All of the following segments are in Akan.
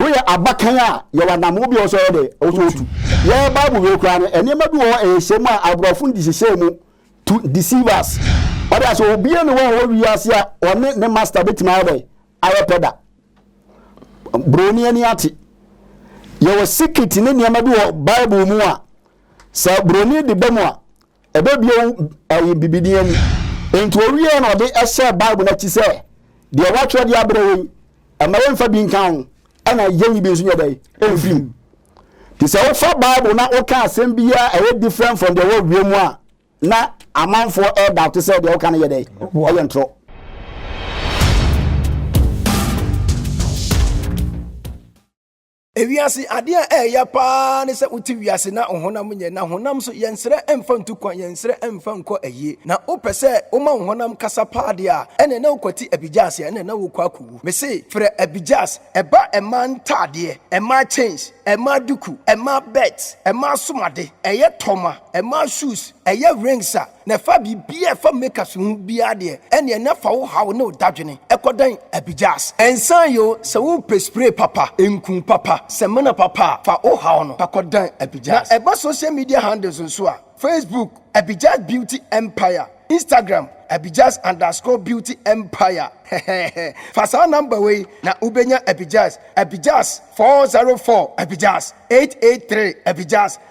Woyɛ abakan a, yɛwɔ anammɔn bi a ɛwɔ sɛ yɛde to tu. Yɛn Bible wie koraa no, nneɛma bi wɔ hɔ a ɛyɛ hyɛmu a aborɔfo de hyehyɛɛ mu to deceive us. Wate ase? Obiara nni hɔ a ɔwɔ wiase a ɔne ne master betumi ayɛ dɛn? Ayɛ pɛ da. Buroni ani ate. Yɛwɔ secret ne nneɛma bi wɔ Bible mu a, sɛ buroni de ba mu a, ɛbɛbue wo ɛyi bibini ani nti owie na ɔde ɛhyɛ bible n'akyi sɛ deɛ wɔatwerɛ de abrɛ yɛn ɛma yɛmfa bi nka ho ɛna yɛnyi bi nso nyɛ dɛn ɛmfiri mu nti sɛ wofa bible na woka asɛm biara ɛyɛ different from deɛ wɔawie mu a na amanfoɔ ɛda to sɛ deɛ woka no yɛ dɛn ɛyɛ ntorɔ Wiase ade a ɛyɛ paa ne sɛ wote wiase na wo honam nyɛ, na honam so yɛnsrɛ mfa ntu kwan, yɛnsrɛ mfa nkɔ ayie. Na wopɛ sɛ woma wo honam kasa paa deɛ a, ɛnna na wokwati abigyaase, ɛnna na wokɔ akɔwu. Mese frɛ abigyaase, ɛba mmaa ntaadeɛ, mmaa chains, mmaa duku, mmaa belt, mmaa asom ade, ɛyɛ tɔma, mmaa shoes, ɛyɛ rings a, Na fa biribiara a ɛfa Maker so ho biara deɛ, ɛnneɛ na fa wo haw ne wo dadwene kɔdan Abijahs. Ɛnsan yɛ o, sɛ worepɛ spray papa, nku papa, samina papa a, fa wo haw no fa kɔdan Abijahs. Na ɛba social media handles nso a, Facebook, Abijahs Beauty Empire, Instagram, Abijahs underscore Beauty Empire. Heheheh. Fa saa number wei na wobɛnya Abijahs, Abijahs four zero four, Abijahs eight eight three, Abijahs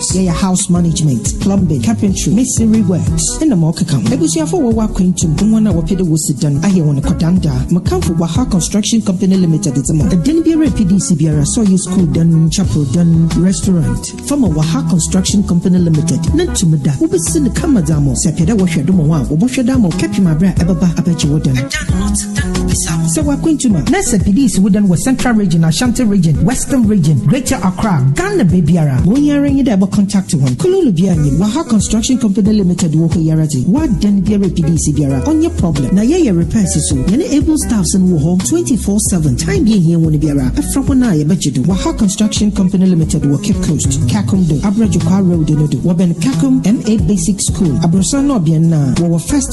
So yɛyɛ house management, plumbing, carpentry, masonry works na ma ɔkeka ho. Abusuafo a wɔwɔ akwantu mu ne wɔn a wɔpɛ dɛ wosi dan ayɛ wɔn kɔdandaa. Mekamfo Waha Construction Company Limited dze ma wo. Dan biara a PDC biara, sɛ ɔyɛ skuul dan, chapel dan, restaurant, fa ma Waha Construction Company Limited na tum da. Wobesi no kama dze ama wo. Sɛ epɛ dɛ wɔhwɛ do ma wo a, wɔbɔhwɛ do ama wo kɛpem aber a ɛbɛba abɛgye wo dan. Sɛ w'akwantu ma na sɛ pidie si wo dɛn wɔ Central Region, Ashanti Region, Western Region, Greater Accra, Ghana baabiara a, wo yi ara nye dɛ bɔ contact hɔn. Kululu biara nnyim, Waha Construction Company Limited wɔ hɔ yi ara dze, w'adan biara a pidie si biara, ɔnnyɛ problem. Na yɛyɛ repairs so. Hɛn able staffs no wɔ hɔ twenty four seven, time bi a ihia hɔn biara, frɛ hɔn a yɛbɛgye do. Waha Construction Company Limited wɔ Cape Coast, Kakum do, Abrɛ Dwokwaa Road no do, wɔbɛn Kakum MA Basic School, aborɔsan no ɔbean no a, wɔwɔ first,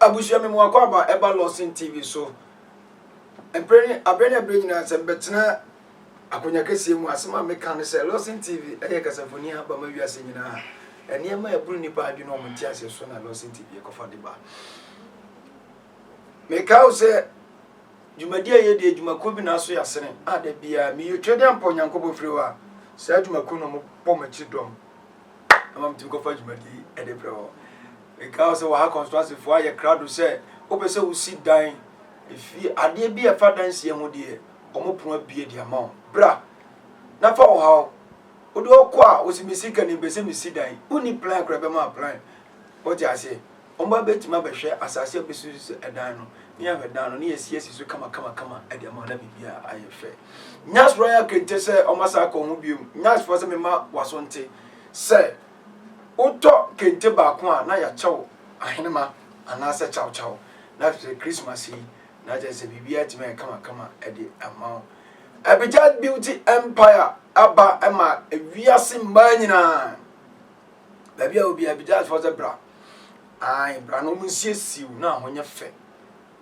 Abusua me mu akwaaba a ɛba Lawson TV so mprɛ ne abrɛ ne abrɛ nyinaa sɛ mebɛtena akonya kɛseɛ mu. Asɛm a meka ne sɛ Lawson TV ɛyɛ kasafoni a aba ma wiase nyinaa. Ɛnneɛma a ɛboro nnipa adwene wɔn nteaseɛ so na Lawson TV ɛkɔfa de ba. Meka wo sɛ dwumadi a yɛdi adwumakuo bi na aso yɛ asene a da biara meyɛ twa de ampɔ Nyankopɔn firi hɔ a saa adwumakuo no ɔmo bɔ m'akyi dɔm ama metumi kɔfa dwumadi ɛde brɛ hɔ. Mekae sɛ wɔ ha kɔnstitansefo ayɛ krado sɛ wopɛ sɛ wosi dan, efie, adeɛ bi a ɛfa dan sie ho deɛ, wɔn pono abue de ama wo. Bra na fa wo haw. Wode ɔkɔ a, wo se me sika ni, mepɛ sɛ mesi dan. Wonni plan koraa, ɛbɛma wo plan. Wote aseɛ? Wɔn ba bɛtumi abɛhwɛ asase a wobɛsi so dan no, ne yɛahwɛ dan no, ne yɛasiesie so kamakamakama de ama wo na biribiara ayɛ fɛ. Nyasfoɔ ayɛ akente sɛ wɔn asa akɔ ho bio. Nyasfoɔ sɛ mema w'aso nte sɛ. wotɔ kente baako a na yɛakyɛ wo ahenema anaasɛ kyawkyaw na afei Christmas yi na kyerɛ sɛ biribiara atumi ayɛ kamakama de ama wo. Abijad Beauty Empire aba ma wiase mmaa nyinaa. Baabi a obi Abijadfoɔ sɛ bra. Ae, bra na wɔnsiesie wo na ahonyɛ fɛ.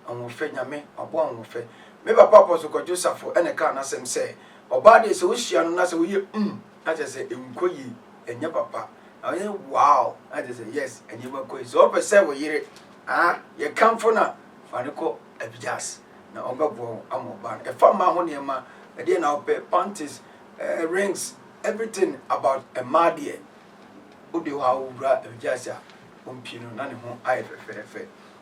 Ahoɔfɛ, Nyame aboa Ahoɔfɛ. Me papa Apostle Kwadwo Safo na ɛkaa n'asɛm sɛ, ɔbaa deɛ sɛ wohyia no na sɛ woyɛ umm na kyerɛ sɛ ɛnkɔ yie, ɛnyɛ papa. Na woyɛ wow na kyerɛ sɛ yes, nneɛma kɔ yie. Sɛ wopɛ sɛ wo yere ah yɛkamfo no a, fa no kɔ Abijas na ɔmbɛboa wo ama ɔbaa no. Ɛfa mmaa ho nneɛma, ɛdeɛn na wopɛ, panties, eh, rings, everything about mmaa deɛ, wode hɔ a wowura Abijas a, ɔmpie no na ne ho ayɛ fɛfɛɛfɛ.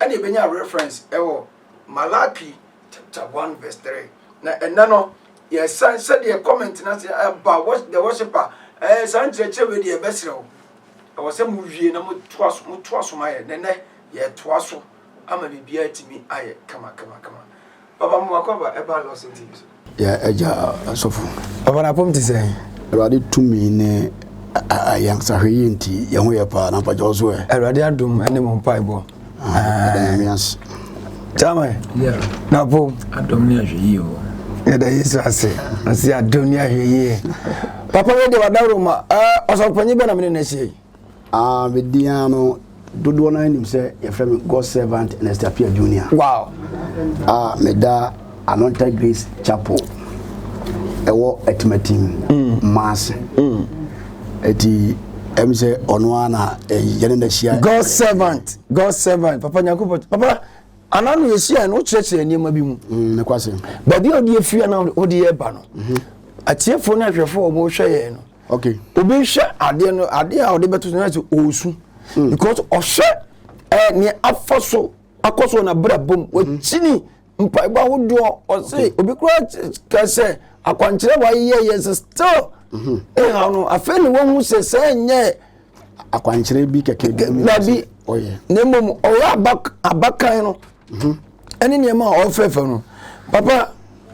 ɛna yɛbɛnya reference ɛwɔ Malachi chapter 1 verse 3 na ɛnɛ no yɛsan sɛdeɛ comment no ase ɛba the worshipper ɛɛ saa nkyerɛkyerɛ wei deɛ ɛbɛserɛ wo ɛwɔ sɛ mowie na motoa so motoa so ma yɛ nɛnɛ yɛtoa so ama biribiara atumi ayɛ kama kama kama Papa mo akɔaba ɛbaa Lawson TV so. Yɛ agya asɔfo. Papa na apɔm te sɛn. Awurade tumi ne yɛn sahwɛ yie nti yɛn ho yɛ paa na mpagya wo so ɛ. Awurade adom ne mo mpaebɔ. Ɛda nyame ase. Kyamɛ. Na apɔm. Adom ne ahwɛ yie o. Yɛda Yesu ase. Ɔsi adom ne ahwɛ yie. Papa wei de wadaworo ma. Ɔsɔpanyin bɛ na mene na ahyia yi. Ah, me din ara no, dodoɔ no ara nim sɛ yɛfrɛ me God's servant Ernest Appiah Junior. Wow! Ah, meda Anonta Grace Chapel ɛwɔ Atimatim, Maase. Ɛti ɛm sɛ ɔno ara na yɛne na hyia. God's servant, God's servant, Papa Nyankopɔn, Papa, anaa no yɛhyia no wokyerɛkyerɛ nneɛma bi mu. Ne kwase. Baabi a wode afiri anaa wode yɛ ba no, atiefoɔ ne ahwɛfoɔ a wɔhwɛ yɛn no, ok obi nhwɛ adeɛ no adeɛ a ɔde bɛto so na sɛ ɔresu hmm. because ɔhwɛ ɛɛ nea afa so akɔ so na bra bom hmm. wakyini mpaebɔ ahodoɔ ɔse obi kura ka sɛ akwankyerɛ wa yɛ yɛ sɛ still hmm. ɛha no afei na wɔn ho sɛ sɛ nyɛ akwankyerɛ bi kɛkɛ bi mu dabi na mmom ɔyɛ abakan no ɛne nneɛma a ɔfɛfɛ no papa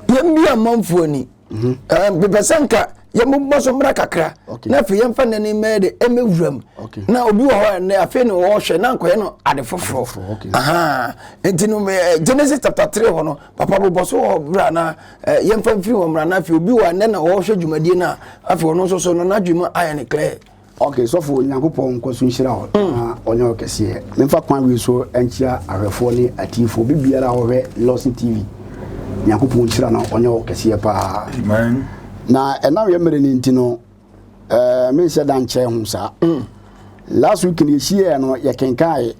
yɛn bi amanfoɔ ni mhm. eh, mepɛ sɛ nka yɛmobɔ so mmra kakra na afei yɛmfa nnɛ ne mmɛyɛ de ɛmɛ wuram na obi wɔ hɔ ɛnɛ afei ne wɔhwɛ na nkɔyɛ no ade foforɔ aha nti no eh, genesis chapter three hɔ no papa bobɔ so wɔ bra na eh, yɛmfa mfiri hɔ mmra na afei obi wɔ ɛnɛ na wɔhwɛ dwumadie no a afei ɔno nso so no n'adwuma ayɛ ne clear Ok sɔfo Nyankopɔn nkɔ so nhyira wo na ɔnyɛ wo kɛseɛ. Memfa kwan wei so nkyia ahwɛfoɔ ne atiefoɔ bibiara a ɔhwɛ Lawson TV. Nyankopɔn nhyira na ɔnyɛ wo kɛseɛ paa. Amen. Na ɛnam yɛ mmerɛ no nti no, eh, menhyɛ da nkyɛɛ ho saa. Mm. Last week no yɛhyiaɛ no yɛkenkae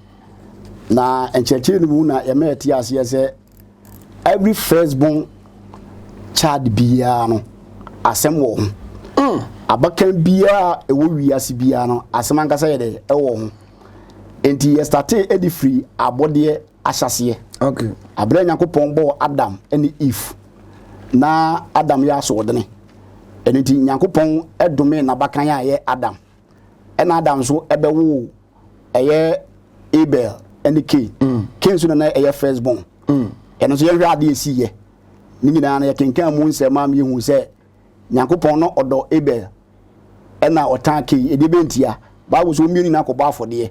na nkyerɛkyerɛ no mu na yɛma yɛte aseɛ sɛ every first born child biara no asɛm wɔ ho mm. abakan biara ɛwɔ wiase biara no asɛm ankasa yɛ dɛ ɛwɔ ho nti yɛstate de firi abɔdeɛ ahyɛseɛ okay. aberɛ nyankopɔn bɔɔ adam ne eve na adam yɛ asoɔdene ɛno nti nyankopɔn dome n'abakan a ɛyɛ adam ɛna adam nso ɛbɛwoo ɛyɛ abel ne kain mm. kain nso na na ɛyɛ first born mm. ɛno nso yɛhwɛ ade ɛsi yɛ ne nyinaa no yɛkenkan mu nsɛm a mehu sɛ nyankopɔn no ɔdɔ abel ɛna ɔtan kain ɛdeɛ bɛntia bible so wɔmmienu nyinaa kɔbɔ afɔdeɛ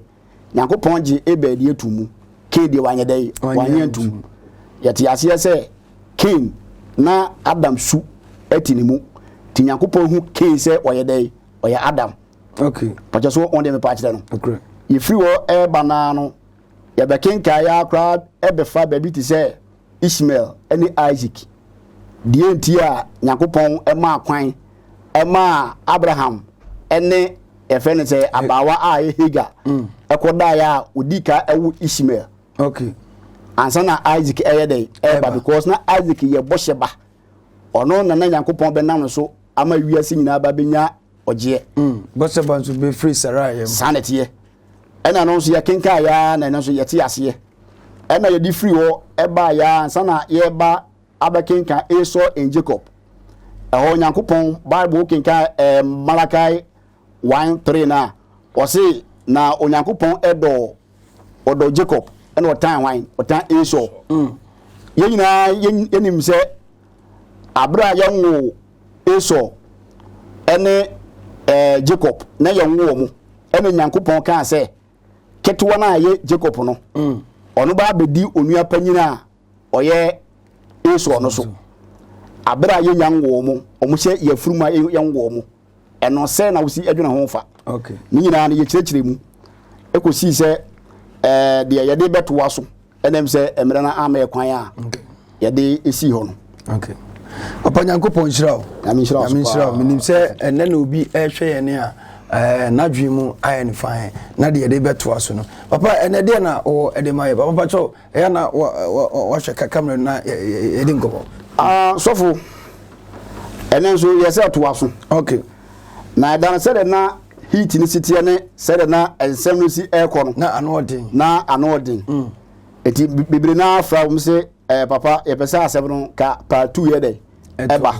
nyankopɔn gye abel deɛ to mu kain deɛ wanyɛ dɛn wanyɛ ntom yɛte aseɛ sɛ kain na adam su ɛte ne mu nti nyankopɔn hu kain sɛ ɔyɛ dɛn ɔyɛ adam okay ɔkyɛ so wɔn deɛ mepa akyerɛ no okay yɛfiri hɔ ɛreba naa no yɛbɛkenkan yɛ akoraa ɛbɛfa baabi te sɛ Ishmael ɛne Isaac deɛ nti a Nyankopɔn ɛmaa kwan ɛmaa Abraham ɛne yɛfrɛ no sɛ abaawa a ɛyɛ Hagar mm. ɛkɔdaeɛ a ɔdi ka ɛwo Ishmael okay ansa na Isaac ɛyɛ dɛ ɛba because na Isaac yɛ bɔhyɛ ba ɔno na na Nyankopɔn bɛnam no so ama wiase nyinaa ba bɛnya ɔgyeɛ. Mm. Batseba nso bɛfiri Saraia mu. Saa na ɛteɛ. Ɛna no nso yɛkenkan yɛa na ɛno nso yɛte aseɛ. Ɛna yɛde firi hɔ ɛbaa yɛa ansa na yɛba abɛkenkan Esau and Jacob. Ɛhɔ Nyankopɔn Bible wokenkan eh, Malachi 1 3 no a, ɔse na Onyankopɔn ɛdɔ ɔdɔ Jacob ɛna ɔtan hwan? Ɔtan Esau. Mm. Yɛn nyinaa yɛnim sɛ Aber a yɛwoo Esau ne Jacob na yɛwoo wɔn, ɛna Nyankopɔn kaa sɛ, ketewa no a ɛyɛ Jacob no, ɔno ba abɛdi onua panyin a ɔyɛ Esau no so. Aber a yɛnya nwoo wɔn, wɔhyɛ yɛn afurum a yɛnwoo wɔn. ɛno sɛ na wosi adwene ho fa ne nyinaa no yɛkyerɛkyerɛ mu ɛkɔsii sɛ eh, deɛ yɛde bɛtoa so ɛnam sɛ mmerɛ no ama yɛ kwan a yɛde ɛsii hɔ no papa nyankopɔn nhyira wo nhyira wo menim sɛ ɛnɛ na obi ɛhwɛ yɛne a eh, n'adwene mu ayɛ ne fan na deɛ yɛde bɛtoa so no papa ɛnɛ deɛ na ɔwɔ ɛde ma yɛ papa pakyɛw Ɛyɛ a na wɔhwɛ kakra mmerɛ no na yɛdi nkɔmmɔ. Ah, sɔfo, ɛnɛ nso yɛ sɛ toa so. Okay. Na ɛda no sɛdeɛ na heat no si teɛ ne sɛdeɛ na nsɛm no si ɛrekɔ no. Na ano ɔden. Na ano ɔden. Mm. Eti bebree na afra wɔn sɛ ɛɛ eh, papa yɛpɛ sɛ asɛm no ka part two yɛ dɛ. ɛba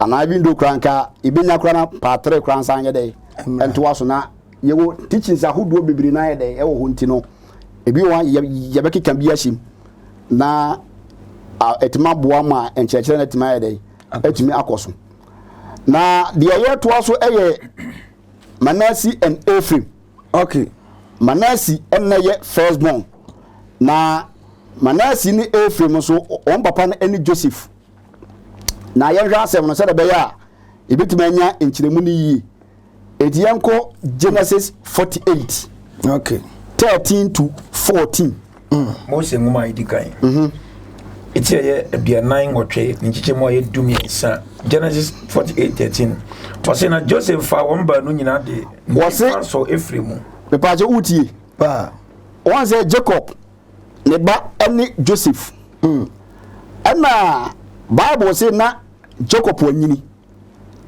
anaa even though koraa nka yɛbɛnya koraa na paatere koraa nsa nyɛ dɛ ɛntoa so na yɛwɔ teachings ahodoɔ bebree na ayɛ dɛ ɛwɔ hɔ nti no ebi wɔ yɛbɛkeka bi ahyem na ɛtumi aboa ma nkyerɛkyerɛ no atumi ayɛ dɛ atumi akɔ so na deɛ yɛtoa so ɛyɛ Manasi and Ephraim Ok, Manasi na yɛ first born, na Manasi ne Efraim nso, wɔn papa no ne Joseph. Na yɛnhwɛ asɛm no sɛdeɛ ɛbɛyɛ a yɛbɛtumi anya nkyerɛmu no yie. Enti yɛnkɔ Genesis 48. Ok. 13 to 14. Mm. Mose nwoma a edi kan. Mhm. Eti ɛyɛ aduanan nwɔtwe ne nkyekyɛmu a ɛyɛ du mmiɛnsa Genesis forty eight thirteen. Wɔsi na Joseph fa wɔn baanu nyinaa de nifa so efiri mu. Mipaakyɛ wutie. Paa. Wɔn sɛ Jacob ne ba ɛne Joseph. Mm. Ɛna Bible se na Jacob wanyini.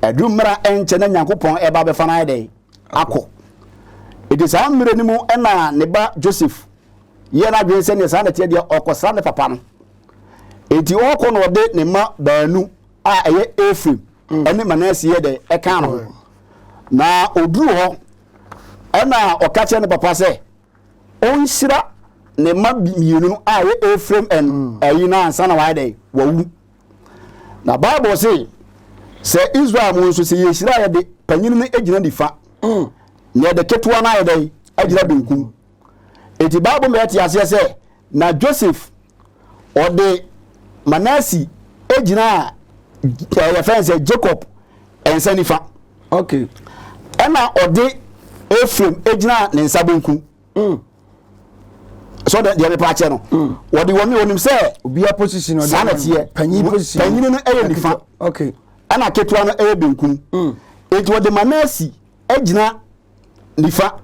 Ɛdu mmara ɛnkyɛ na Nyankopɔn ɛba bɛfa no ayɛ dɛ. akɔ. Enti saa mmerɛ no mu na ne ba Joseph yɛɛ n'adwene sɛ neɛ saa na ɛteɛ deɛ ɔrekɔsra ne papa no. Enti ɔrekɔ no ɔde ne mma baanu a ɛyɛ Efraim mm. ne Manase yɛ dɛ ɛkaa no ho. Na ɔduru hɔ ɛna ɔka kyerɛ ne papa sɛ ɔnhyira ne mma mmienu no a ɛyɛ Efraim ɛyi mm. no ansa na wayɛ dɛ wawu. Na Bible se, sɛ Israel mu nso, sɛ yɛhyira yɛ de, panyin no gyina nifa, mm. na yɛde ketewa no ayɛ dɛ, agyina benkum. Eti Bible ma yɛte aseɛ sɛ, na Joseph ɔde Manasi gyina eh, yɛfɛn sɛ Jacob nsa nifa. Okay. Ɛna ɔde Ephraim gyina ne nsa benkum. Mm. so deɛ deɛ mepa akyɛ no mm. wɔde wɔn wɔnim sɛ obiara position saa na teɛ panyin position panyin no ɛyɛ nifa okay ɛna ketewa no ɛyɛ benkum mm. eti wɔde manasi ɛgyina nifa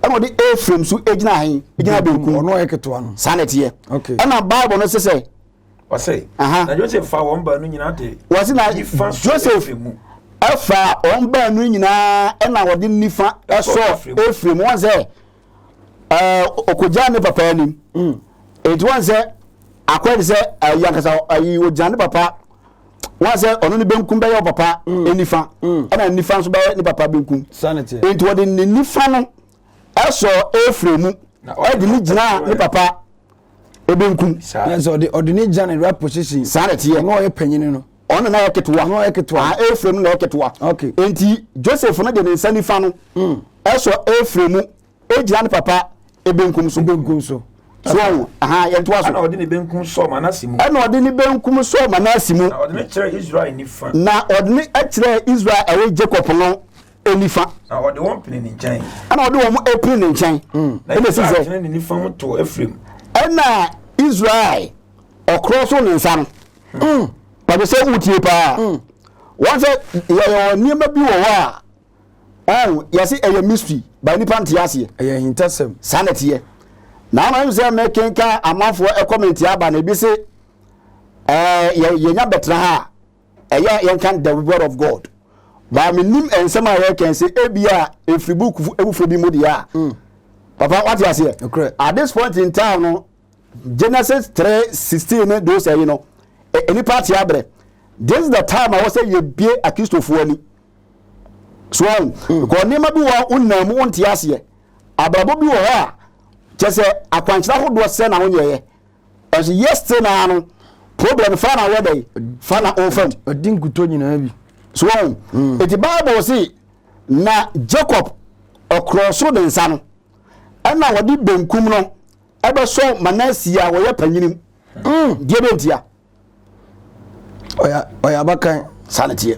ɛna wɔde efraim so ɛgyina ahen ɛgyina benkum ɔno ɛyɛ ketewa no saa na teɛ okay ɛna bible no sɛ sɛ. Wɔsɛ, Aha. na Joseph fa wɔn baanu nyinaa de Wɔse na nifa sɔ Joseph Efraim mu. ɛfa wɔn baanu nyinaa ɛna wɔde nifa Ɛsɔ ɛsɔ Efraim. Efraim wɔn sɛ ɛɛ ɔkɔgyaa ne papa anim Mm. eti wɔn sɛ akɔyɛ te sɛ ayi ankasa ayi ɔgyaa ne papa wɔn sɛ ɔno ne benkum bɛyɛ ɔpapa nifa Mm. ɛna nifa nso bɛyɛ ne papa benkum Saa na ɛteɛ. eti wɔde ne nifa no ɛsɔɔ Efraim mu de ne gyinaa ne papa ebenkum. Nanso ɔde ɔde ne gya ne right position. saa na ɛteɛ Ɔno a ɔyɛ panyin no. ɔno na ɛyɛ ketewa Ɔno a ɔyɛ ketewa. Ah, Efraim no na ɛyɛ ketewa Okay. enti Joseph no de ne nsa nifa no ɛsɔ Efraim mu egyina ne papa ebenkum so Benkum so. so ɔho aha yɛntoa so ɛna ɔde ne benkum sɔɔ manase mu ɛna ɔde ne benkum sɔɔ Manase mu na ɔde no kyerɛɛ israel nifa na ɔde ne ɛkyerɛɛ Israel a ɛyɛ Jacob no nifa. Na ɔde wɔn pene ne nkyɛn. Ɛna ɔde wɔn pene ne nkyɛn. Hmm. Na ɛna si sɛ. Na ne nifa ho to Efraim. Ɛna Israel ɔkorɔ so ne nsa no. Hmm. Pàtó sɛ wotie paa. Hmm. Wɔn sɛ yɛyɛ nneɛma bi wɔ hɔ a. Ɔn yɛsi ɛyɛ mystery ba nipa nte aseɛ. Ɛyɛ ahintasɛm. Saa na ɛteɛ. Na ama mi sɛ mɛkenka amanfoɔ ɛkɔmɛnti aba na ebi se ɛɛ yɛ yɛnya bɛtena ha. ɛyɛ a yɛnka the word of god baa menim nsɛm a yɛkɛn sɛ ebia ɛfiri book foforɔ bi mu deɛ a mm. papa wate aseɛ at this point in time no genesis 3 16 ne those ɛyi no nnipa ate abrɛ this is the time a wɔ sɛ yɛbie akristofoɔ ani so mm. because nneɛma bi wɔ wonam mu wonte aseɛ abrabɔ bi wɔ hɔ a kyɛ sɛ akwankyerɛ ahodoɔ sɛ na wonyɛeɛ Ɔsi yes te naa no problem fa na wɔ dɛ fa na o fam. Ɔdi nkutɔ nyinaa bi. So wɔn mm. eti bible si na Jacob ɔkorɔ so ne nsa no ɛna wɔde benkum no ɛbɛsɔ Manasi a wɔyɛ panyinim. Mm. Deɛ bɛ ntia. Ɔyɛ ɔyɛ abakan. Saa ne teɛ.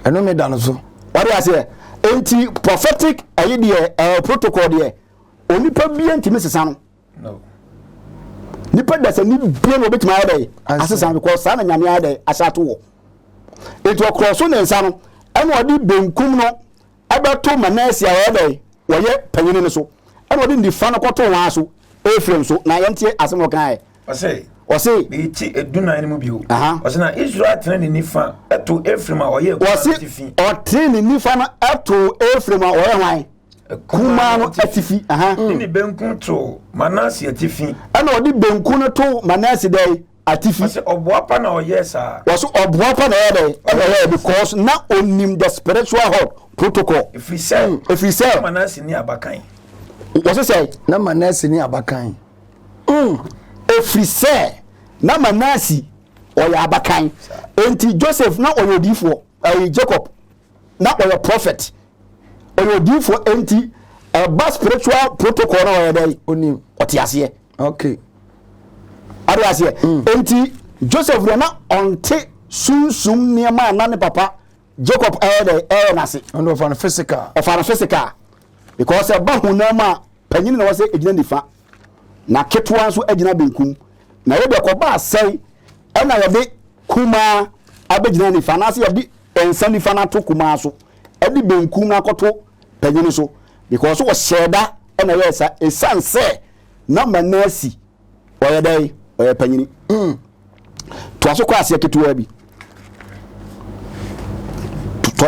Ɛno ne da no so. Ɔde aseɛ enti prophetic ɛyi deɛ ɛɛ protocol deɛ onipa bie ntumi sesa no. nipa dasani bie na obetumi ayɛ dɛ asesa no kɔ saa na nyame ayɛ dɛ ahyɛ ato wɔ etu ɔkorɔ so ne nsa no ɛna ɔde benkum no ɛbɛto manasi a ɔyɛ dɛ wɔyɛ panyin no so ɛna ɔde nifa no kɔto wɔn aso efirem so na yɛn tie asɛm ɔkan yɛ. ɔsɛ ɔsɛ eti edunan no mu bio ɔsɛ na israel tena ne nifa ɛto efirem a ɔyɛ ɔsɛ ɔtene ne nifa no ɛto efirem a ɔyɛ hwan. kumaa no atifi. ne ne benkum too Manase atifi. ɛna ɔde benkum no too Manase dɛn atifi. wɔsɛ ɔboa pa na ɔyɛɛ saa. wɔsɛ ɔboa pa na ɔyɛ dɛn ɛna ɔyɛɛ because na onim the spiritual hot protocol. efiri sɛ mm, efiri sɛ Manase ni abakan. wɔsɛ sɛ na Manase ni abakan. Mm. efiri sɛ na Manase ɔyɛ abakan nti Joseph na ɔyɛ odiifoɔ ɛyɛ Jacob. na ɔyɛ prophet ɔyɛ odiifoɔ enti ɛba spiritual protocol na ɔyɛ dɛn onim ɔte aseɛ okay ade aseɛ mm. enti joseph deɛ na ɔnte sunsum nneɛma a na ne papa jacob ɛyɛ dɛn ɛyɛ n'ase ɔno ɔfa no physical ɔfa no physical because ɛba honam a Panyin na wɔsɛ egyina nifa, na ketewa nso agyina benkum. Na wei deɛ kɔbaa sɛn ɛna yɛde kumaa abɛgyina nifa anaasɛ yɛde nsa nifa no ato kumaa so ɛde benkum no akɔto panyin so because wɔhyɛɛ da ɛna ɛyɛɛ saa ɛsiane sɛ na Manasi Ɔyɛ dɛn? Ɔyɛ panyini. Toa so kɔ aseɛ ketewa bi.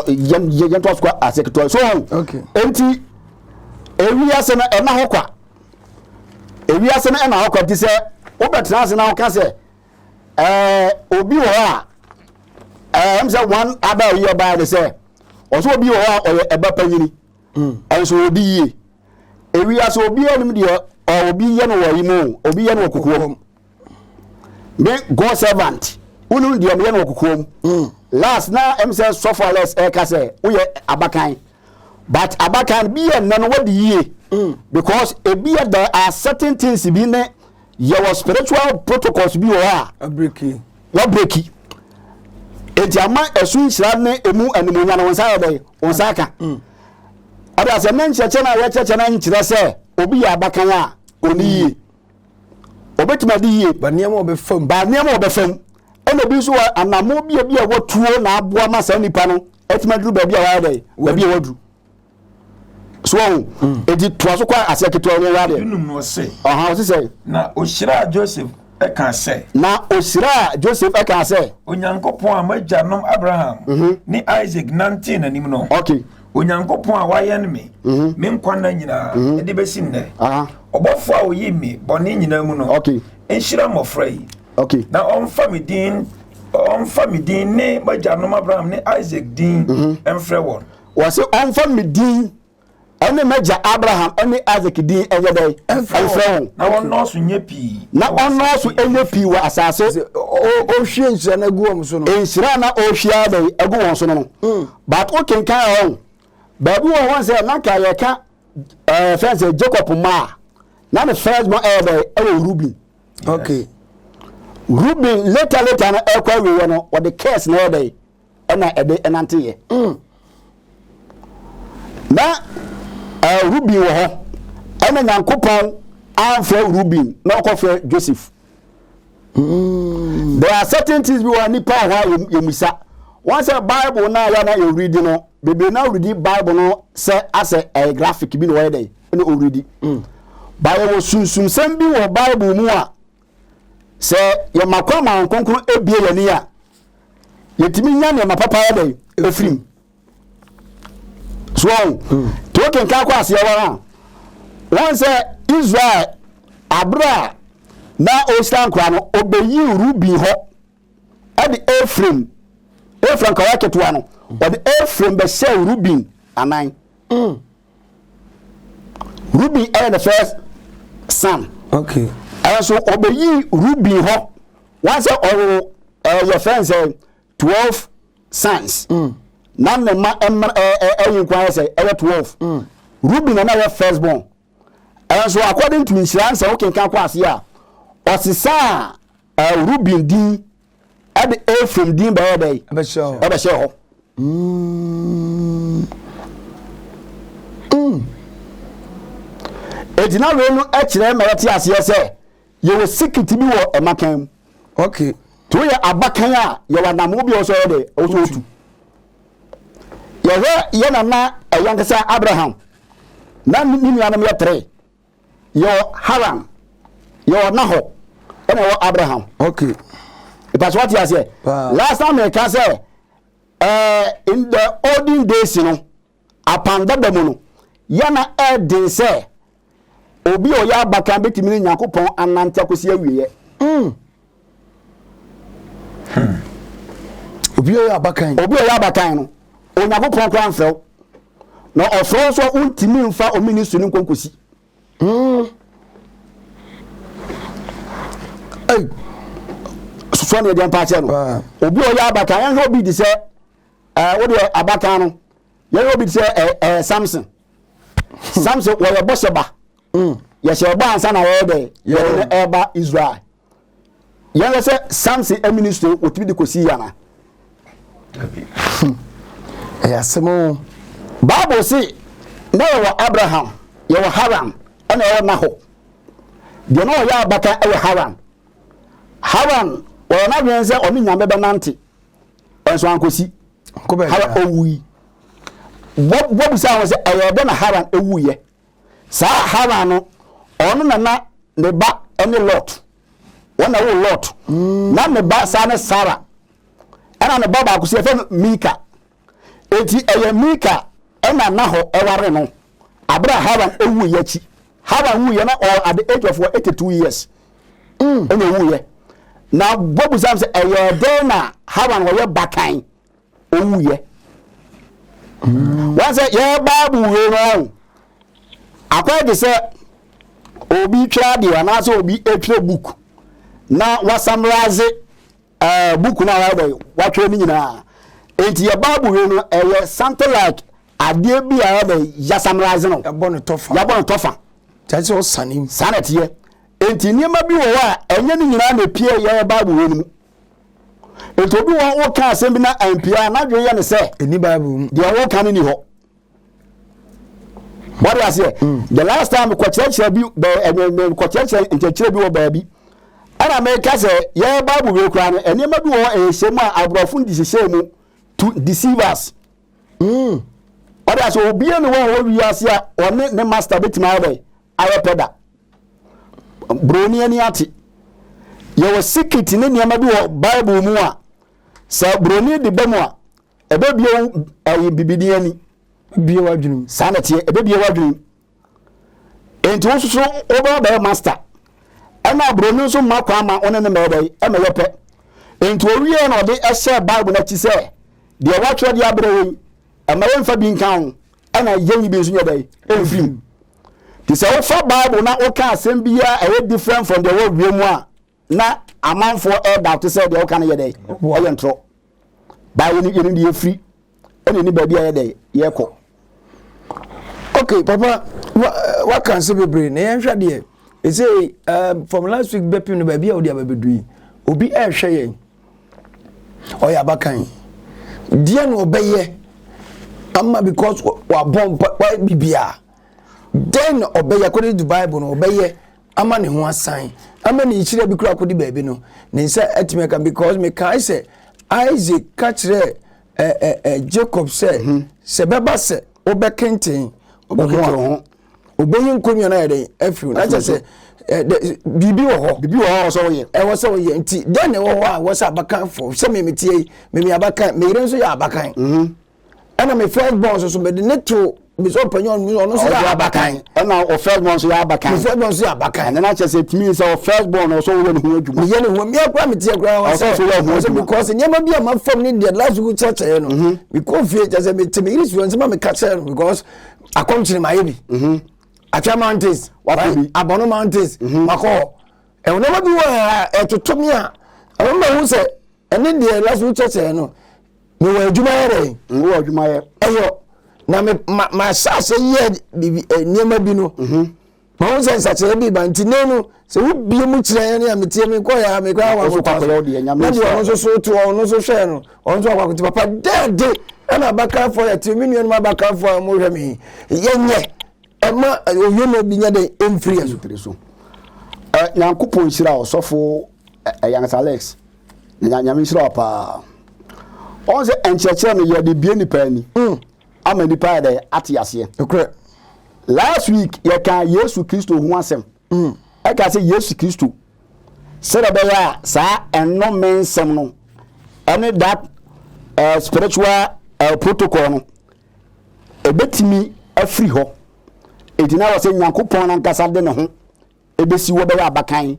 Yɛn toa so kɔ aseɛ ketewa bi. So wɔn. Enti ewi ase no ɛna hɔ kwa. Ewi ase no ɛna hɔ kwa ti sɛ wobɛtena ase na woka sɛ ɛɛ obi wɔ hɔ a ɛɛ ɛm sɛ wɔn aba a yɛ baa de sɛ ɔsɛ obi wɔ hɔ a ɔyɛ ɛba panyini. Ɛnso hmm. odi yie. ewiase obiara nim deɛ obi yɛ no wɔ yi mu obi yɛ no wɔ kokoɔ mu me god servant wonim deɛ meyɛ no wɔ kokoɔ mu hmm. last na ɛm sɛ sɔfo alex ɛka sɛ woyɛ abakan but abakan bi yɛ nnɛ no wadi yie hmm. because ebi yɛ there are certain things bi ne yɛwɔ spiritual protocols bi wɔ hɔ a wɔbreki enti ama ɛso nhyira ne ɛmu animuonya no wo nsa yɛ dɛn wo nsa aka mm. ɔde asɛ ne nkyerɛkyerɛ no a yɛkyerɛkyerɛ no nkyerɛ sɛ obi yɛ abakan a ɔne mm. yie ɔbɛtumi ade yie ba nneɛma ɔbɛfam ba nneɛma ɔbɛfam ɛna bi nso wɔ anamo bia bi a wɔtuo na aboa ma saa nipa no ɛtumi aduru baabi a wɔayɛ dɛn baabi a wɔaduru so ɔho mm. enti toa so kɔ aseɛ ketewa no ɛwɔ adeɛ dunum no ɔse ɔha ɔse sɛ na ɔhyiraa joseph ɛka sɛ na ɔhyiraa joseph ɛka sɛ onyankopɔn a m'agyanom abraham mhm. ne isaac nantee n'anim no okay onyankopɔn a wayɛn me mhm. me nkwa nna nyinaa mhm. de bɛsi nnɛ ɔbɔfoɔ a ɔyii me bɔne nyinaa mu no nhyira mmɔfra yi na ɔmfa me din ɔmfa me din ne m'agyanom abraham ne isaac din mfrɛ wɔn Wɔse ɔmfa me din ne m'agya Abraham ne Isak din nyɛ dɛn? Mfrɛ wɔn. Na wɔnnɔɔso nyɛ pii. Na wɔnnɔɔso nyɛ pii wɔ asase. Sɛ ɔhwie nhyira no agu wɔn so no. Nhyira na ɔhwie ara dɛn agu wɔn so no no. Hmm. But wokenkan wɔn. Baabi wɔ hɔ sɛ na nka yɛka ɛɛ fɛn sɛ Jacob mma a na ne first born ɛyɛ dɛn ɛwɔ Ruben. Okay. Ruben later later no ɛkɔ awieɛ no wɔde curse na ɛyɛ dɛn. ɛna ɛde ɛnanteeɛ mm. na uh, Ruben wɔ hɔ ɛna Nyankopɔn amfrɛ Ruben na ɔkɔfrɛ Joseph mm. there are certain things bi wɔ nipa wɔ hɔ a yɛmisa wɔn sɛ bible no a yɛna yɛwuridi no bebree na wuridi bible no sɛ asɛ ɛyɛ graphic bi na wɔyɛ dɛ ɛna ɔwuridi mm. bayɛ wɔ sunsumsɛm bi wɔ bible mu a Sɛ yɛma kwan ma Honhom Kronkron ebue yɛn ani a, yɛtumi nya nneɛma papa yɛ dɛn? Ɛfiri mu. So wɔn, hmm. nti wokenkan kɔ aseɛ wɔn a, wɔn sɛ Israel abere a na ɔhyira nkora no ɔbɛyi Ruben hɔ ɛde Efraim Efraim kɔyɛ ketewa no ɔde Efraim bɛhyɛ Ruben anan mm. Ruben yɛ the first son. Okay. Ɛnso ɔbɛyi Ruben hɔ wɔn sɛ ɔwɔ ɛɛ yɛ fɛn sɛ twelve sons. Mm. Na ne mma ɛmma ɛɛ ɛɛ ɛyi nkwa yɛ sɛ ɛyɛ twelve. Mm. Ruben na yɛ first born. Ɛnso according to nhyira nsɛm wokenkan kɔ ase a ɔsesaa ɛɛ Ruben din ɛde efraim din bɛyɛ dɛ ɛbɛhyɛ hɔ eti na wei no kyerɛ mma yɛte aseɛ sɛ yɛwɔ sikiti bi wɔ ɛmakan mu okay to yɛ abakan a yɛwɔ anamo bi a ɔsɔ yɛ dɛ ɔsɔ otu yɛhwɛ yɛ nana ɛyɛ ankasa abraham na ne nuanom yɛ tere Yɛwɔ Haran, yɛwɔ Nahor, ɛna yɛwɔ Abraham. Okay. Ìpàṣẹ wọ́n ti àṣẹ. Last time mi ka sẹ́, eh, in the olden days no, apandada mu no, yẹn na ẹ den sẹ́, obi a ɔyɛ abakan bɛtumi ne Nyankopɔn anante akɔsi awieɛ. Mm. Hmm. Obi a ɔyɛ abakan. Obi a ɔyɛ abakan no, Onyankopɔn koraa mfrɛ wo. Na ɔfrɛ wo nso a wontumi mfa wo ministry no nkɔ nkosi. Hmm. Ei. Sosoɔ ne ɛdeɛ mpa akyɛ no. Ah. Obi a ɔyɛ abakan, yɛnhwɛ obi te sɛ, eh, wo deɛ abakan no, yɛhwɛ obi te sɛ eh, eh, Samson. Hmm. Samson wɔyɛ bɔhyɛ ba. Hmm. Yɛhyɛ ɛbɔ ansa na yɛyɛ dɛ, yɛde no ɛba Israel. Yɛn wɔ sɛ Samson amini so wɔtumi de kɔsi yɛ ana? Hmm. Ɛyɛ asɛm o. Bible se na yɛwɔ Abraham, yɛwɔ Haran, ɛna yɛwɔ Nahor. Deɛ na ɔyɛ abata ɛyɛ Haran. Haran wɔyɛ n'adwene sɛ ɔne Nyame bɛnante, ɛnso ankɔsi. Haran owui. Wɔbusa wɔn sɛ ɛyɛ dɛ na Haran ewuiɛ. Saa Haran no, ɔno na na ne ba ne Lot. Wɔn na woo Lot. Na ne ba saa ne Sara. Ɛna ne ba baako so yɛfrɛ no Milka. Enti ɛyɛ Milka ɛna Nahor ɛware no abere a Haran ɛwuiɛ akyi. Haran wuiɛ na ɔwɔ at the age of 82 years. Mm. Ɛna ɔwuiɛ. Na bɔbu sam sɛ ɛyɛ dɛn na Haran ɔyɛ bakan owuiɛ wɔn sɛ yɛ bible wei no awo akɔyɛ de sɛ obi twerɛ adeɛ anaasɛ obi twerɛ book na wasamraze ɛɛ eh, book no a wɔayɛ dɛ wɔatwerɛ no nyinaa nti yɛ bible wei no ɛyɛ something like adeɛ bi a ɛyɛ dɛ yasamraze no yɛbɔ no tɔfa yɛbɔ no tɔfa kyɛ sɛ ɔsane saa na ɛteɛ nti nneɛma bi wɔ hɔ a ɛnyɛ no nyinaa na ɛpie yɛ bible wei no mu Nti obi wɔ hɔ woka asɛm bi na ampia a n'adwene yɛ ne sɛ ɛni Bible mu deɛ woka no ni hɔ wade aseɛ mm. the last time kɔkyerɛkyerɛ bi kɔkyerɛkyerɛ nkyerɛkyerɛ bi wɔ baabi ɛna meka sɛ yɛ Bible wei koraa no nneɛma bi wɔ hɔ ɛhyɛ mu a aborɔfo de hyehyɛ mu to deceive us mm. wade aseɛ obia ne wɔ hɔ wiase a ɔne ne master bɛtumi ayɛ dɛ ayɛ pɛ da Buroni ani ate. Yɛwɔ sikit ne nneɛma bi wɔ Bible mu a, sɛ buroni de ba mu a, ɛbɛbie wo ɛyi bibini ani. Bie w'adwenem. Saa na ɛteɛ, ɛbɛbie w'adwenem. Enti wo nso wobɛba bɛyɛ master. Ɛna buroni nso mma kwan ma wo ne no mɛɛdɛ yi, ɛmɛyɛ pɛ. Enti owie na ɔde ɛhyɛ Bible no akyi sɛ, deɛ wɔatwerɛ de abrɛ yɛn, ɛma yɛmfa bi nka ho, ɛna yɛnyi bi nso nyɛ dɛ, ɛmfiri mu. Nti sɛ wofa Bible na woka asɛm bi a ɛyɛ different from deɛ ɛwɔ wiem a na amanfoɔ ɛredawte sɛ deɛ woka no yɛ dɛ ɛyɛ ntorɔ baa yɛne yɛne deɛ ɛfiri ɛne ne baabi a yɛ dɛ yɛkɔ okay papa waka nsɛ bebree na yɛnhwɛ deɛ ɛsɛ um, from last week bɛpem no baabi a wode abɛbɛdu yi obi ɛrehwɛ yɛn Ɔyɛ abakan. Deɛ na ɔbɛyɛ ama because wabɔ mpa wayɛ bibia. Dɛn na ɔbɛyɛ according to bible no ɔbɛyɛ ama ne ho asan ama ne nhyira bi kura akɔdi baabi no ne nsa atumi aka because mekae sɛ Isaac ka kyerɛɛ ɛ ɛ ɛ Jacob sɛ mhm. sɛ bɛba sɛ wobɛkenten wo ho a. obeyi nkonnwa no ayɛ dɛn afiri mu na kyerɛ sɛ biribi wɔ hɔ biribi wɔ hɔ a wɔsɛ wɔyɛ ɛwɔ sɛ wɔyɛ nti dɛn na ɛwɔ hɔ a wɔsɛ abakanfo sɛ meme tie yi meme abakan meyere nso yɛ abakan mhm. ɛna me first born nso so mede ne to mesɛ ɔpanyin ɔno nso ɔno nso yɛ abakan ɛna ɔ first born nso yɛ abakan ɔ first born nso yɛ abakan ɛna n'akyɛ sɛ tumi sɛ ɔ first born ɔsɔ wɔyɛ ne ho adwuma meyɛ ne ho meyɛ kura mi tiɛ kura ɔsɛ ɔsɛ wɔyɛ ho adwuma because nneɛma bi a ma fam ne deɛ last week kyerɛkyerɛ no mekɔ fie kyɛ sɛ mete me yiri suwɛn sɛ ma meka kyerɛ no because akɔmkyere mayɛ bi mhm. atwa mountains abɔno mountains mhm. makɔ hɔ ɛwɔ nneɛma bi wɔ ɛtoto me a ɛwɔ ma hu sɛ ɛne deɛ last week kyɛkyɛ no mewɔ adwuma yɛ dɛn mewɔ adwuma yɛ ɛyɔ na mahyɛ ahyɛ yɛ nneɛma bi no mhm. Ma wo sɛ nsakyerɛ bi ba nti nɛ no sɛ wo bie mu kyerɛ ɛne a metie me kɔ yɛ a me kɔ yɛ a wɔn kɔ so na deɛ ɔno nso so to ɔno nso hwɛ no ɔno nso akɔ akɔti papa dɛɛde ɛna abakanfoɔ yɛ te me nuanom abakanfoɔ a wɔhwɛ me yɛ nyɛ ɛma ɔwie no bi nyɛ dɛ ɛmfiri yɛ so nyankopɔn nhyira ɔsɔfo ɛyansa alex nyame nhyira paa ɔn sɛ nkyerɛkyerɛ no yɛde bie nipa ani mm. ama nnipa ayɛ dɛ ate aseɛ. Nokorɛ. Last week yɛkaa Yesu Kristo ho asɛm. Mm. Ɛka sɛ Yesu Kristo sɛdeɛ ɛbɛyɛ a saa ɛnnome nsɛm no ɛne that uh, spiritual uh, protocol no ɛbɛtumi afiri hɔ. Ɛti na wɔ sɛ Nyankopɔn no ankasa de ne ho ɛbɛsi hɔ bɛyɛ abakan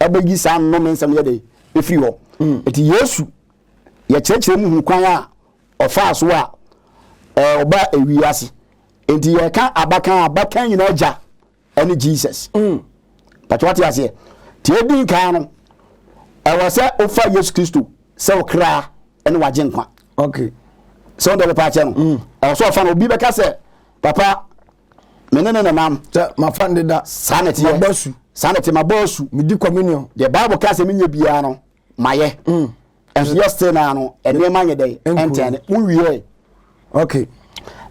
ɛbɛyi saa nnome nsɛm yɛ dɛ ɛfiri hɔ. Ɛti mm. Yesu yɛkyerɛkyerɛ mu hu kwan a ɔfaa so a ɔba ewi ase nti yɛka abakan abakan nyinaa gya ɛne jesus mm. pàtó wate aseɛ tí edi nkan no ɛwɔ sɛ ofa yesu kristo sɛ ɔkra ɛne wagye nkwa okay. sɛ ɔn dɛ bɛpa akyɛ no mm. ɛwɔ sɛ ɔfa no obi bɛka sɛ papa mene ne nenam mafa ne da saa ne teɛ saa ne te mabɔ asu medi communion deɛ bible ka sɛ menyɛ biara no mayɛ mm. Nso yɛ still naa no nneɛma nyɛ dɛ ɛntɛn ne mo wie ɛ. Okay.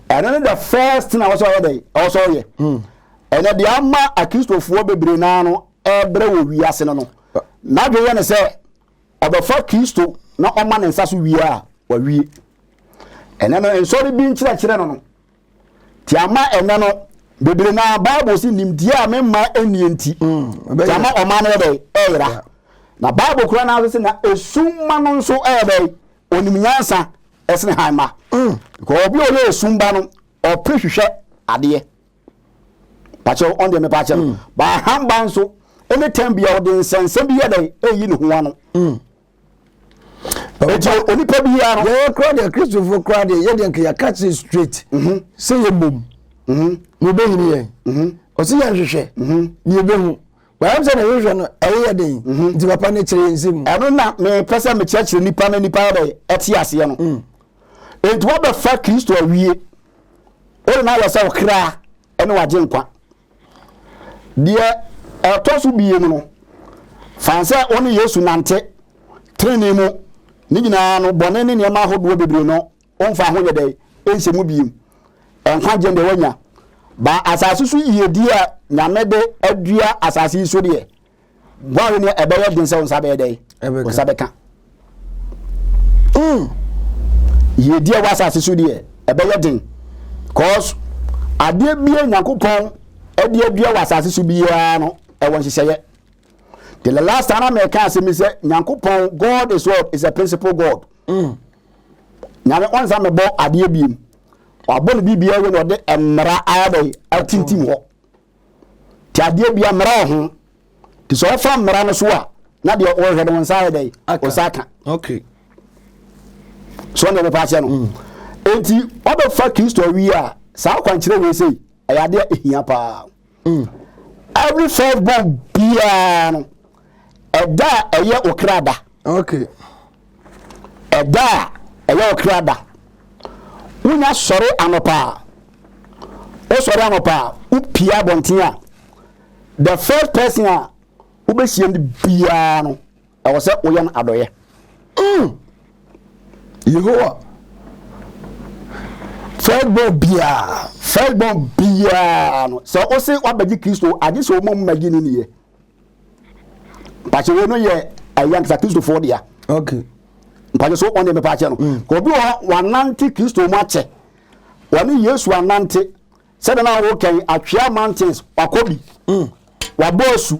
Ɛno ne the first thing a wɔsɔ yɛ dɛ wɔsɔ yɛ. Hmm. Ɛnɛ deɛ ama akristofoɔ bebree naa no ɛbrɛ wɔ wiase no no n'adwe yɛ ne sɛ ɔbɛfa kristo na ɔma ne nsa so wie a wawie. Ɛnɛ no nsɔre bi nkyerɛkyerɛ no no. Nti ama ɛnɛ no bebree no a Bible se nimdeɛ a me mma nnie nti mm, nti ama ɔma no yɛ dɛn ɛyera na Bible kora no ase na esum ma no nso ɛyɛ dɛn onim nyansa ɛsene han ma mm. nka obi a ɔyɛ esum ba no ɔpere hwehwɛ adeɛ pakyɛw ɔn deɛ mepa akyɛ no mm. baa han ba nso ɛne tɛn bia ɔde nsɛnsɛm bi yɛ dɛn ɛyi ne ho ano ɛti onipa bi ya no. yɛyɛ kura deɛ kristofo kura deɛ yɛ deɛ nka yɛaka kyerɛ straight mhm. sɛ yɛ mmom mhm. na obɛnyini yɛn mhm. ɔsɛ yɛ nhwehwɛ ne yɛbɛhu bɛyam sɛ na yɛhwehwɛ no ɛyɛ den nti papa no kyerɛ yɛnsɛ mu ɛno na mepɛ sɛ mekyerɛkyerɛ nipa no nipa yɛdɛ ɛte aseɛ no mm. enti wabɛfa kristo awie wode no ayɛ sɛ ɔkra ɛne wagye nkwa Deɛ ɛtɔ so mmienu no, fa no sɛ wo ne Yesu nante trenee mu ne nyinaa no, bɔne ne nneɛma ahodoɔ bebree no, womfa ho nyɛ dɛn? Nhyɛ mu biem. Nkwagyeɛ deɛ woanya. Ba asase so yiedie a Nyame de adua asase yi so deɛ, Guare no ɛbɛyɛ den sɛ wo nsa bɛyɛ dɛn? Wo nsa bɛka. Mm. Yiedi a ɛwɔ asase so deɛ ɛbɛyɛ den. Cause adeɛ bia Nyankopɔn ɛde adua wɔ asase so biara no ɛwɔ nhyehyɛeɛ. The last time na mɛka asɛm sɛ Nyankopɔn God is what is a principal God. Mm. Nyame ɔnsa mɛbɔ adeɛ biem. Wabɔ no biribiara yɛ na ɔde mmara ayɛ dɛ atintim hɔ. Te adeɛ bia mmara wɔ ho. Te sɛ ɔfa mmara no so a, na deɛ ɔhwɛ no nsa ayɛ dɛn? Ɔsa aka. Okay. So ne ɔbɛpa aseɛ no. Mm. Enti ɔbɛfa Kristo awie a, saa kwankyerɛ wei sei, ɛyɛ adeɛ a ɛhia paa. Mm. Every first born biara no, ɛda a ɛyɛ ɔkra da. Ok. Ɛda a ɛyɛ ɔkra da. Wonya sɔre anɔpa a, wosɔre anɔpa a, wopie abɔnten a, the first person a wobɛhyia no biara no, ɛwɔ sɛ woyɛ no adɔyɛ. Mm. Yehowa, firstborn biara, firstborn biara no, sɛ wose wabɛgye Kristo, agye sɛ woma mu magye ne niyɛ. Pàṣẹ wei no yɛ ɛyɛ ankasa Kristofoɔ dea. Okay. Mpàṣẹ so wɔn deɛ mepɛ akyɛ no. Mm. Obi wɔ hɔ wanante Kristo mu akyɛ. Wɔne Yesu anante. Sɛdeɛ na wɔwɔ kɛn atwea mountains wakɔ bi. Mm. Wabɔ asu.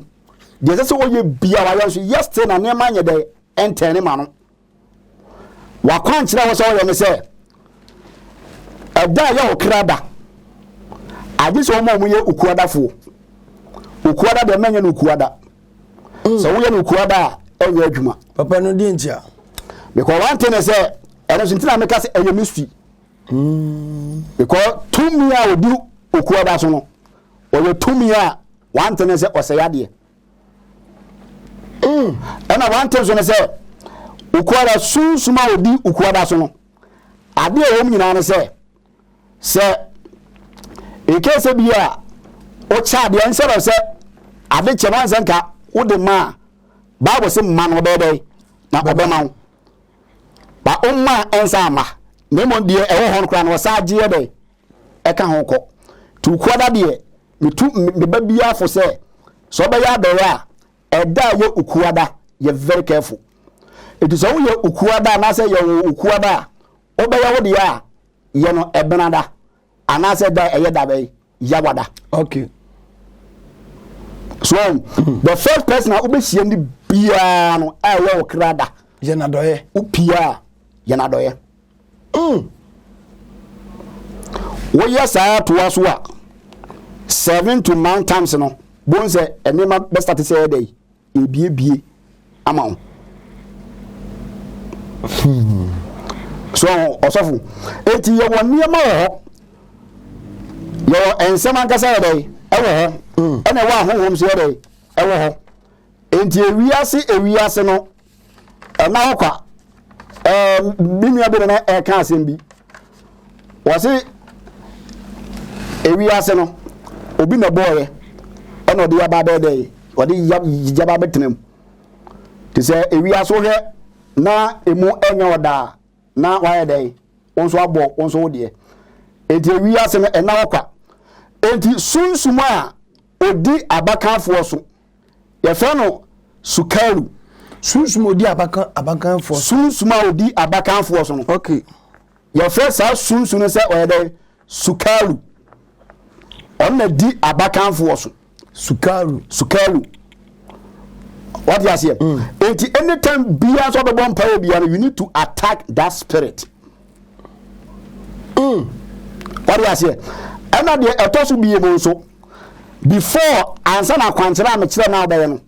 Deɛ ɛsɛ sɛ wɔyɛ bia wɔayɛ nso yɛ still na nneɛma nyɛ dɛ ɛntɛn ne ma no. W'akwankyerɛ a ɛwɔ sɛ wɔyɛ ne sɛ, ɛda a ɛyɛ ɔkra da, agye sɛ wɔn a wɔyɛ okuadafoɔ. Okuada deɛ mɛnyɛ no okuada. Mm. Sɛ woyɛ no okuada a, ɛnyɛ adwuma. Papa no deɛ ntia. Because one thing is sɛ, ɛno nso ntina meka sɛ ɛyɛ mystery. Mm. Because tumi a ɔdi okuada so no, ɔyɛ tumi a one thing is sɛ ɔsɛ yadeɛ. Mm, ɛna wante nso no sɛ ukuada sunsum a odi ukuada so no ade a ɛwɔ mu nyinaa no sɛ sɛ nkee sɛ bi a wokyɛ adeɛ nsɛ dɛ sɛ ade kyɛ no ansɛ nka wode ma a bible se mma no ɔbɛyɛ dɛn na ɔbɛma wo ba ɔmma ɛnsa ama na mmom deɛ ɛwɔ hɔ no koraa no ɔsa agyeɛ dɛn ɛka ho kɔ. Tuukuada deɛ, metu me ba biara fo sɛ, sɛ ɔbɛyɛ adɔeɛ a, ɛda a ɛyɛ Ukuada, yɛ very careful. Nti sɛ woyɛ Ukuada anaasɛ yɛwoo Ukuada a, wobɛyɛ wo deɛ a, yɛ no Ɛbenada, anaasɛ da a ɛyɛ da bɛn? Yawada. Okay. So, hmm. the first person a wobɛhyia no biara no a ɛyɛ wo krada. Yɛ n'adɔeɛ. Wopie a, yɛ n'adɔeɛ. Mm. Woyɛ saa toa so a, seven to nine times no, bohu sɛ nneɛma bɛstate sɛ ɛyɛ dɛ ebiebie ama wo. Hmm. So ɔsɔfo, eti yɛwɔ nneɛma wɔ hɔ, yɛwɔ nsɛm ankasa yɛ dɛ ɛwɔ hɔ, hmm. ɛna ɛwɔ ahonhom so yɛ dɛ ɛwɔ hɔ. Enti ewiase ewiase no ɛma hɔ kwa ɛɛ me nua bi na ɛka asɛm bi wɔsi ewi ase no obi na bɔɔyɛ ɛna ɔde yaba abɛɛ dɛ ɔde yaba abɛtena mu te sɛ ewi ase hwɛ na emu ɛnyɛ ɔda a na wayɛ dɛ wɔn nso abɔ wɔn nso wo deɛ eti ewi ase no ɛna hɔ kwa eti sunsum a odi abakanfoɔ so Yɛfrɛ no sukaru. Sunsum a odi abakan abakanfoɔ. Sunsum a odi abakanfoɔ so no. Okay. Yɛfrɛ saa sunsum no sɛ ɔyɛ dɛ sukaru. Ɔno na di abakanfoɔ so. Sukaru. Sukaru. Wati aseɛ. Mm. Eti anytime bia nso ɔbɛbɔ mpa wɔ bia no you need to attack that spirit. Mm. Wade aseɛ. Ɛna deɛ ɛtɔ so bie mu nso. Before ansa na akwankyerɛ a mekyerɛ na wobɛyɛ no.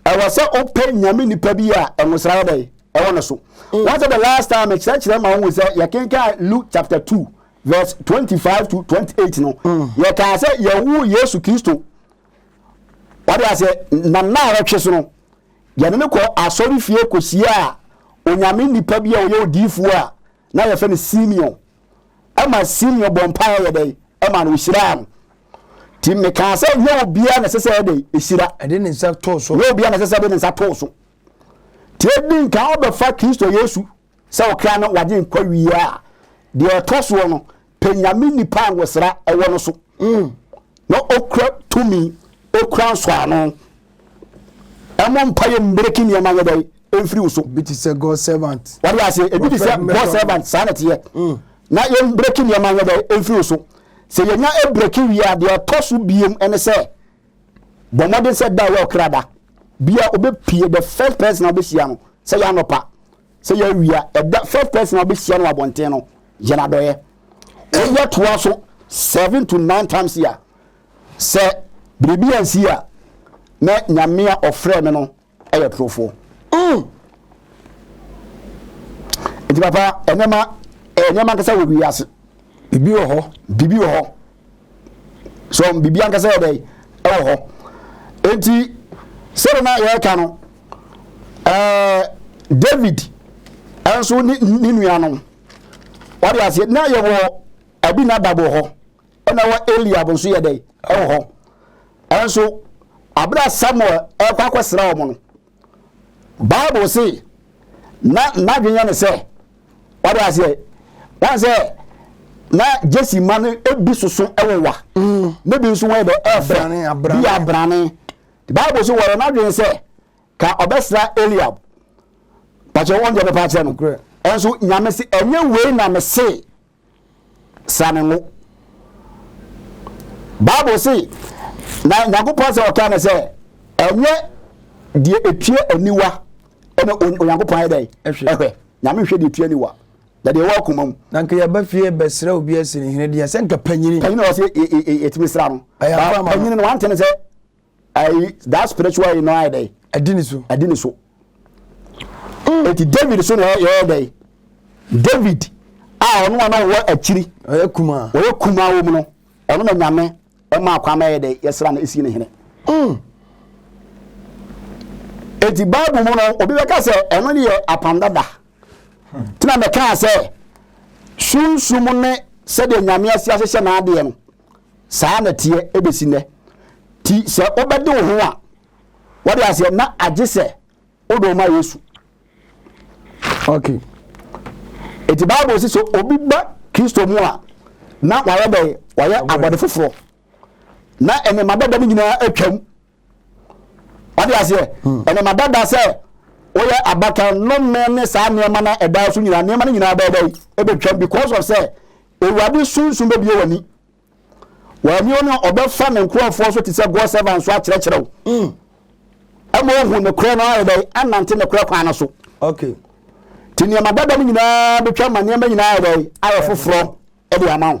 Ɛwɔ sɛ wopɛ nyame nipa bi a ɛnwosra yɛ dɛn ɛwɔ no so. Mm. Wɔn sɛ the last time mekyerɛkyerɛ ma wɔn sɛ yɛkenkan Luke chapter two verse twenty five to twenty eight no. Mm. Yɛkaa sɛ yɛwu Yesu Kristo. Wade aseɛ nam na awɔtwe so no. Yɛne no kɔɔ asɔrefie kɔhyiaa Onyame nipa bi a ɔyɛ odiyifoɔ a na yɛfrɛ no Simeon. Ɛma Simeon bɔɔ mpaeɛ yɛ dɛn? Ɛma no ɔhyiraa no. Nti mekaa sɛ nyɛ obiara na ɛsɛ sɛ yɛ dɛn? Ɛhyira. Ɛde ne nsa too so. Nyɛ obiara na ɛsɛ sɛ ɛde ne nsa too so. Nti ɛdi nkan ɔbɛfa Kristo Yesu. Sɛ ɔkra no wagye nkwa wie a, deɛ ɛtɔ soɔ no, pɛ Nyame nipa a ngosra wɔ no so, na ɔkura tumi, ɔkura nsɔano. Ɛmɔ mpaeɛ mbreki nneɛma nyɛ dɛn? Ɛmfiri wo so. Ebi te sɛ God servant. Wade aseɛ, ebi te sɛ God servant, saa na ɛteɛ. Mm. Na yɛn breki nneɛma nyɛ dɛn? Ɛmfiri wo so. Sɛ yɛnya breki wie a, deɛ ɛtɔ so biem ɛne sɛ, bɔ mmɔden sɛ da a ɛwɔ ɔkra da bia ɔbɛpie the first person a ɔbɛhyia no sɛ yɛ anɔpa sɛ yɛ awia ɛda first person a ɔbɛhyia no abɔnten no yɛ no adɔyɛ ɔyɛ toa so seven to nine times a sɛ biribi ansi a na nyame a ɔfrɛ me no Ɛyɛ torofoɔ. Mm. Nti papa, nneɛma, ɛyɛ nneɛma ankasa wɔ wiase. Bibi wɔ hɔ. Bibi wɔ hɔ. So bibi ankasa yɛ dɛn? Ɛwɔ hɔ. Nti, sɛdeɛ na yɛreka no, ɛɛ David nso ne ne nuanom. Wɔde aseɛ, na yɛwɔ Abinadab wɔ hɔ. ɛna wɔ Eliab nso yɛ dɛn ɛwɔ hɔ ɛnso abira Samuel ɛkɔ akɔsra wɔn no Bible se na n'adwene yɛ ne sɛ wɔde aseɛ wɔn sɛ na Jesse ma no ebi soso ɛwɔ wa mm. ne bi nso wɔn yɛ dɛ ɛfɛ bi yɛ abrane Bible se wɔyɛ n'adwene sɛ ka ɔbɛsra Eliab pàṣẹ wɔn deɛ bɛpa akyerɛ no ɛnso nyame se ɛnyɛ wei na me se. sane ngo. Bible se, na Nyankopɔn sɛ ɔkaa no sɛ, ɛnyɛ deɛ ɛtua aniwa ɛna Onyankopɔn ayɛ dɛn ɛhwɛ. Nyame nhwɛ deɛ ɛtua aniwa na deɛ ɛwɔ akoma mu. Na nka yɛba fie bɛsrɛ obi asini hene deɛ sɛ nka panyini. Panyini wɔ sɛ yɛtumi sra no. Panyini no wante no sɛ ayi that spiritual yi no ayɛ dɛ adi ne so adi ne so mm. eti david so na yɛyɛ dɛ david a ɔno a na ɔwɔ akyiri ɔyɛ kuma ɔyɛ kuma wɔ mu no ɔno na nyame ɛma akwa ma yɛ dɛ yɛsra no esi ne hene mm. eti baabu mu no obi bɛka sɛ ɛno ne yɛ apam dada hmm. tena mɛka sɛ sunsum ne sɛdeɛ nyame asi ahyehyɛ n'adeɛ no Saa ara na ɛteɛ bɛsi nnɛ. Nti sɛ wobɛde wo ho a, wode aseɛ na agye sɛ wode wo ma Yesu. Ok. Nti Bible si sɛ obi ba Kristo mu a, na wayɛ dɛn? Wayɛ abɔde foforɔ. Na nneɛma dada no nyinaa atwam. wade aseɛ ɛnam adada sɛ woyɛ abakan nnome ne saa nneɛma na ɛdaa so nyinaa nneɛma no nyinaa bɛyɛ dɛn ɛbɛtwam because of sɛ awurade sunsum bɛbie w'ani w'ani ɔne ɔbɛfa ne nkurɔfoɔ so te sɛ god servant so akyerɛkyerɛ wo hmm. ɛma ohu ne korɛ no ayɛ dɛn anante ne korɛ kwan no so okay nti nneɛma dada no nyinaa bɛtwa ma nneɛma nyinaa ayɛ dɛn ayɛ foforɔ ɛde ama wo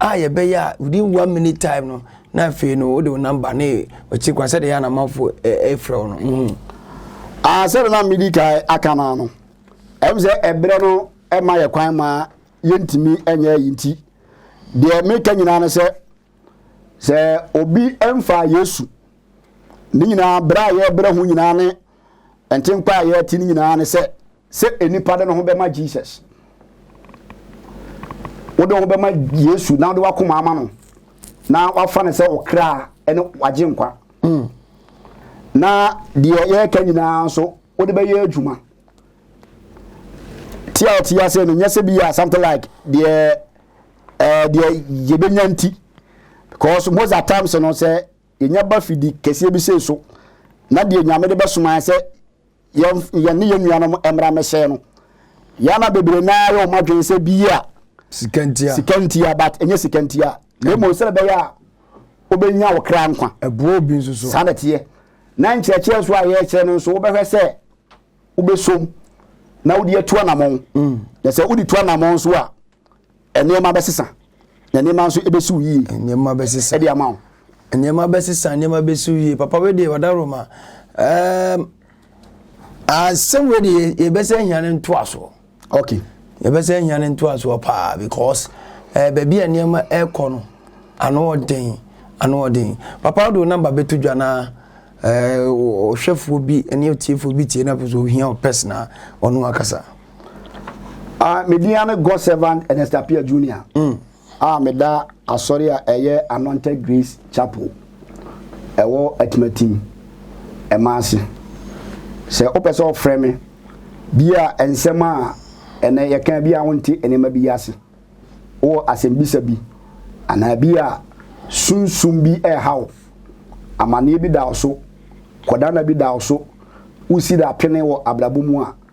a yɛbɛyɛ a within one minute time no na afei no wode wo namba ne ɔkyi kwan sɛdeɛ yɛ anamafo ɛfrɛ wo no mhm. Ah, sɛdeɛ na medi kan aka no ano ɛm sɛ ɛberɛ no ɛma yɛ kwan ma yɛntumi ɛnyɛ yi nti deɛ meka nyinaa no sɛ sɛ obi ɛmfa yesu ne nyinaa berɛ a yɛbrɛ ho nyinaa ne ntenkwa a yɛte no nyinaa ne sɛ sɛ nnipa de ne ho bɛma Jesus. Wode wo ho bɛma Yesu na wode w'akoma ama no na wafa no sɛ ɔkra ne wagye nkwa. Hmm. Na deɛ yɛreka nyinaa nso wode bɛyɛ adwuma. Ti a ɔte ase no nyɛ sɛ bi a something like deɛ ɛɛ deɛ yɛbɛnya nti because most of times no sɛ yɛnya ba fidi kɛseɛ bi sei so na deɛ nyame de bɛsoma sɛ yɛn yɛn ne yɛn nuanom mmara mmɛsɛɛ no yɛn ama bebree naa yɛ wɔn adwene sɛ bi a sika ntia sika ntia but ɛnyɛ sika ntia na mmom sɛ ɛbɛyɛ a wobɛnya wo kra nkwa ɛboa obi nso so saa na ɛteɛ na nkyerɛkyerɛ nso a yɛrekyerɛ no nso wobɛhwɛ sɛ wobɛsom na wode atu anammɔn mm. na sɛ wode tu anammɔn nso a Nneɛma bɛsesa, na nneɛma nso bɛsiw yie. Nneɛma bɛsesa. Ɛde ama wo. Nneɛma bɛsesa, nneɛma bɛsiw yie. Papa wei deɛ ɔda Roma. Um, asɛm wei deɛ yɛbɛsɛ hia no ntoasoɔ. Okay. Yɛbɛsɛ hia no ntoasoɔ paa because uh, baabi a nneɛma ɛrekɔ no ano ɔden ano ɔden. Papa wode wo namba bɛto dwa na ɔhwɛfoɔ eh, bi ne otiefoɔ bi tie na pɛ sɛ ohia ɔpɛs na ɔno akasa. Ah, me din ane God servant Ernest Appiah Junior. Mm. Ah, me da asɔre a ɛyɛ Anointed Grace Chapel. Ɛwɔ Atimatim. Ɛma ase. Sɛ wopɛ sɛ ɔfrɛ me, bi a nsɛm a ɛnɛ yɛka bi a wonte nneɛma bi ase. Wowɔ asɛmbisa bi anaa bi a sunsum bi ɛrehaw. Amanneɛ bi da wo so. Kɔdana bi da wo so. Wosi da apene wɔ abrabɔ mu a.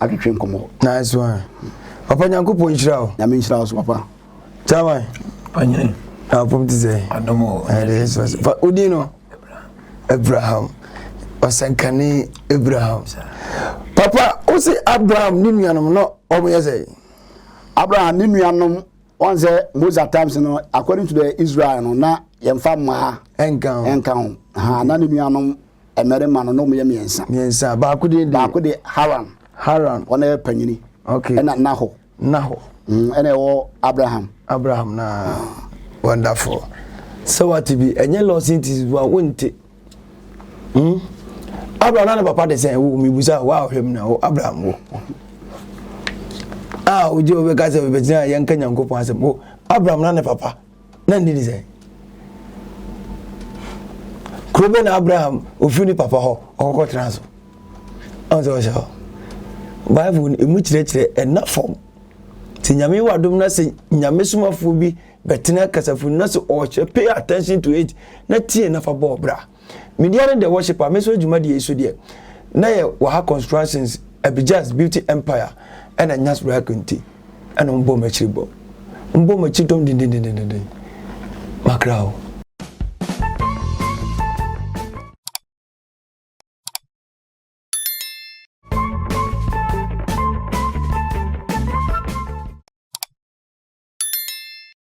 atwetwe nkɔmmɔ. Nice one. Papa Nyankopɔn nhyira wo. Nyame nhyira wo so papa. Chairman. Panyini. Na apom ti sɛ. Adom o. Ɛde nso sɛ. Fa odin no. Abraham. Ɔsɛnkane Abraham. Papa wo se Abraham ne nuanom no wɔn yɛ sɛ. Abraham ne nuanom wɔn sɛ Moses times no according to the Israel no na yɛmfa mmaa. Ɛnka ho. Ɛnka ho. Ha na ne nuanom. mmarima no, na wɔyɛ mmiɛnsa. Mmiɛnsa. Baako din de? Baako de Haran. Haran. Ɔno yɛ panyini. Okay. Ɛna Nahor. Nahor. Mm, ɛna ɛwɔ Abraham. Abraham na wonderful. Sɛ wate bi, ɛnyɛ loss nti wa wonte. Hmm? Abraham na ne papa de sɛn wo mebusa wo a ɔhwɛ mu na wo Abraham wo. A wogye wobɛka sɛ wobɛgyina yɛnka Nyankopɔn asɛm wo Abraham na ne papa. Na ne din de sɛn? Kuro bɛ na Abraham ofiri ne papa hɔ ɔkɔkɔ tena so? Ɔn sɛ ɔhyɛ hɔ. Bible no emu kyerɛkyerɛ ɛna fam. Sɛ nyame wɔ adom na sɛ nyame somafoɔ bi bɛtena kasafoni na sɛ ɔhyɛ pay attention to it na tie na fa bɔɔ bra. Me dea ne the worshipper me nso yɛ dwumadie yi so deɛ na yɛ wɔ ha constructions abijans beauty empire ɛna nyas rako nti ɛna wɔn bɔ wɔn akyiri bɔ wɔn bɔ wɔn akyiri dɔm dendendendenden makra o.